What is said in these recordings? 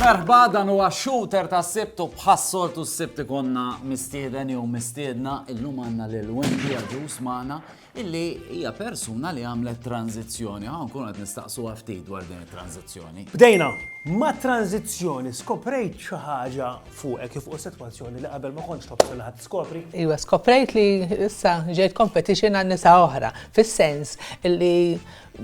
Merħba dan huwa shooter ta' sibtu bħas-soltu s-sibt ikonna mistieden jew mistiedna illum għandna lil Wendy Aġus magħna illi hija persuna li għamlet tranżizzjoni. Ħa nkunu qed nistaqsuha ftit dwar din it-tranżizzjoni. Bdejna mat-tranżizzjoni, skoprejt xi ħaġa fuqek kif u sitwazzjoni li qabel ma kontx tobsel ħadd skopri? Iva, skoprejt li issa ġejt competition għal nisa oħra, fis-sens li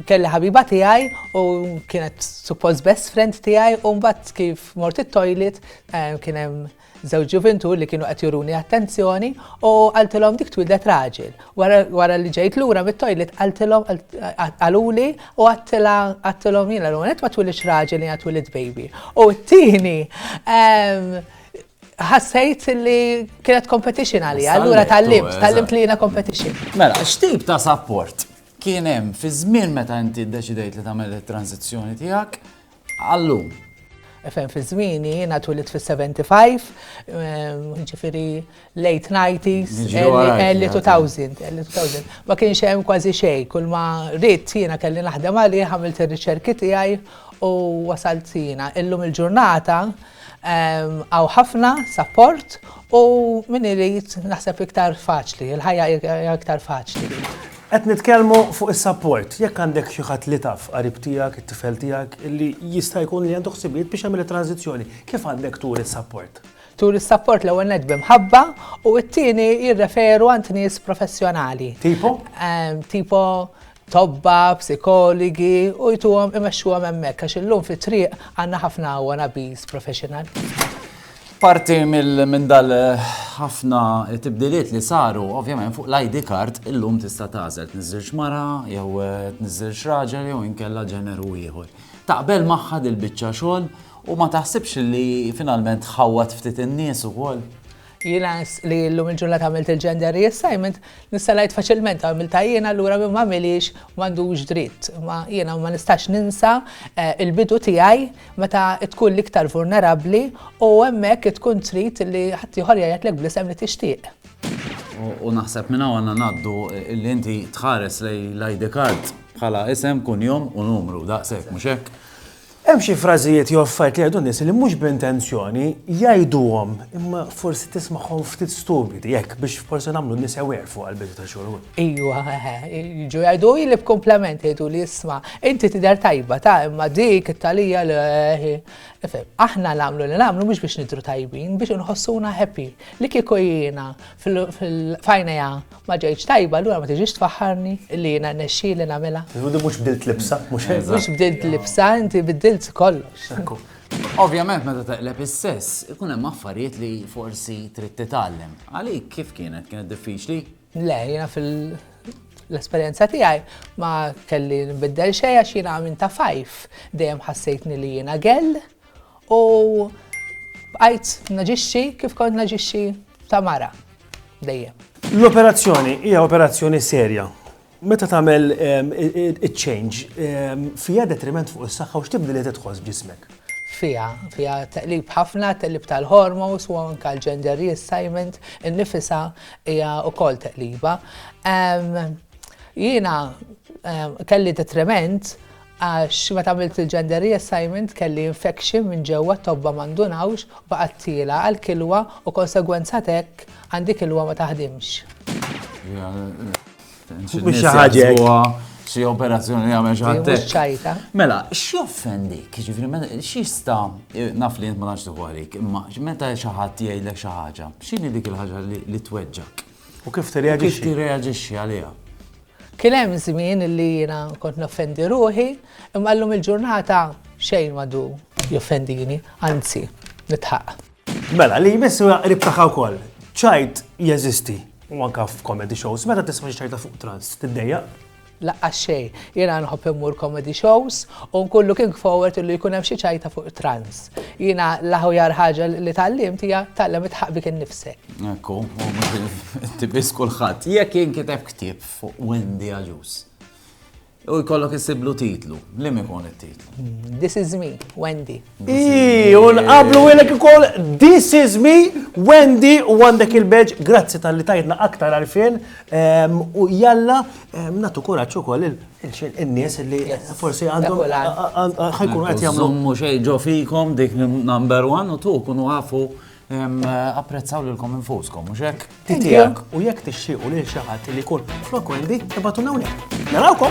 kelli ħabiba tiegħi u kienet suppost best friend tiegħi u mbagħad kif mort it-toilet eh, kien hemm Żewġ ġuvintur li kienu qed juruni attenzjoni u qaltilhom dik twieldet raġel. Wara li ġejt lura mit-toilet qaltilhom qaluli u għattilhom jiena l ma twilidx raġel jiena twilid baby. U t-tieni ehm, ħassejt li kienet competition għalija, allura tal-limt, eh, tal-limt li jiena competition. Mela, x'tip ta' support kien hemm fi żmien meta inti ddeċidejt li tagħmel it-tranzizzjoni tiegħek Għal-lum. Fejn fi żmieni, jiena twilidt fis-75, jiġifieri late 90s, early 2000, early 2000. Ma kienx hemm kważi xejn, kull ma ridt jiena kelli naħdem għalih, għamilt ir-riċerki tiegħi u wasalt jiena. Illum il-ġurnata hawn ħafna sapport u min irid naħseb iktar faċli, il-ħajja hija iktar faċli. Qed nitkellmu fuq is-sapport. Jekk għandek xi ħadd li taf, qarib tiegħek, it-tifel tiegħek, li jista' jkun li għandu ħsibijiet biex jagħmel it-tranżizzjoni, kif għandek turi s-sapport? Turi s-sapport l-ewwel nett bi mħabba u t-tieni jirreferu għand nies professjonali. Tipo? Tipo tobba, psikoligi u jtuhom imexxuhom hemmhekk għax illum fit-triq għandna ħafna wannabies professional. Parti minn dal-ħafna tibdiliet li saru, ovvjament fuq l-ID card illum tista' tagħżel tniżżilx mara jew tniżżilx raġel jew inkella ġeneru ieħor. Taqbel magħha dil-biċċa xogħol u ma taħsibx li finalment tħawwad ftit in-nies ukoll? Jiena li llum il-ġurnata għamilt il-gender reassignment Nista' ngħid faċilment għamiltha jien allura min m'għamilhiex m'għandux dritt. Imma jiena ma nistax ninsa l-bidu tiegħi meta tkun l-iktar vulnerabbli u hemmhekk tkun trid li ħaddieħor jgħidlek bl-isem li tixtieq. U naħseb minn hawn għandna ngħaddu li inti tħares lejn l-ID card bħala isem, kunjom u numru, daqshekk, mhux hekk? Hemm xi frażijiet jew affarijiet li jgħidu n-nies li mhux b'intenzjoni jgħiduhom imma forsi tismagħhom ftit stupidi, hekk biex forsi nagħmlu n-nies aware fuq għall-bidu ta' xogħol. Ejwa, eħe, jiġu jgħiduli li b'kumplament jgħiduli isma' inti tidher tajba ta' imma dik it-tagħlija le hi. Ifhem, aħna nagħmlu li nagħmlu mhux biex nidhru tajbin, biex inħossuna happy. Li kieku jiena f'għajnejha Ma ġejtx tajba, allura ma tiġix tfaħħarni li jiena rnexxieli nagħmilha. Ġudi mhux bdilt libsa, mhux hekk? Mhux bdilt libsa, inti biddilt kollox. Ovvjament meta taqleb is-sess, ikun hemm affarijiet li forsi trid titgħallem. Għalik kif kienet? Kienet diffiċli? Le, jiena fil-esperjenza tiegħi ma kelli nbiddel xejn għax jiena minn ta' fajf dejjem ħassejtni li jiena gell, U bqajt naġixxi kif kont naġixxi ta' mara dejjem. L-operazzjoni hija operazzjoni serja. Meta tagħmel ehm, change ehm, fija detriment fuq is-saħħa u x'tibdil li tidħol ġismek? Fija, fija taqlib ħafna, taqlib tal-hormos u anka l-gender reassignment, in-nifisa hija wkoll taqliba. Ehm, jiena kelli detriment Għax meta għamilt il-gender reassignment kelli infection minn ġewwa t-tobba ma ndunawx u baqgħet tiela' għall-kilwa u konsegwenza t'hekk għandi kilwa ma taħdimx. Mhux xi ħaġa hekk. Xi operazzjoni li għamel xi ħadd. Mhux ċajta. Mela, x'joffendik? Jiġifieri x'jista' naf li int ma nafx tieħu għalik, imma meta xi ħadd jgħidlek xi ħaġa, x'inhi dik il-ħaġa li tweġġak? U kif tirreaġixxi? Kif tirreaġixxi għaliha? Kien hemm żmien li jiena kont noffendi ruħi, imma llum il-ġurnata xejn m'għadu joffendini, anzi, nidħaq. Mela, li jmiss huwa qrib tagħha wkoll. Ċajt jeżisti, u anke f'comedy shows, meta tisma' xi ċajta fuq trans, tiddejjaq? laqqa xej. Jena nħobb immur comedy shows u nkullu kien forward illu jkun hemm xi ċajta fuq trans. Jena l-aħjar ħaġa li tgħallim tija tgħallem itħaq bik innifsek. Ekku, tibis kulħadd. Jekk jinkiteb ktieb fuq Wendy Aġus. U jkollok isiblu titlu, li mi kon it-titlu? This is me, Wendy. Ii, un qablu għilek ikoll This is me, Wendy, u għandek il-beġ, grazzi tal-li tajtna aktar għarfien, ehm, u jalla ehm, natu kuraċ u koll il-nies li forsi għandhom ħajkun għet jamlu. Mux ġo fikom dik number one u tu kunu għafu Apprezzaw lilkom infuskom, mhux hekk? Titijak u jekk tixtiequ lil xi ħadd li jkun flok Wendy, ibatu hawnhekk. Narawkom!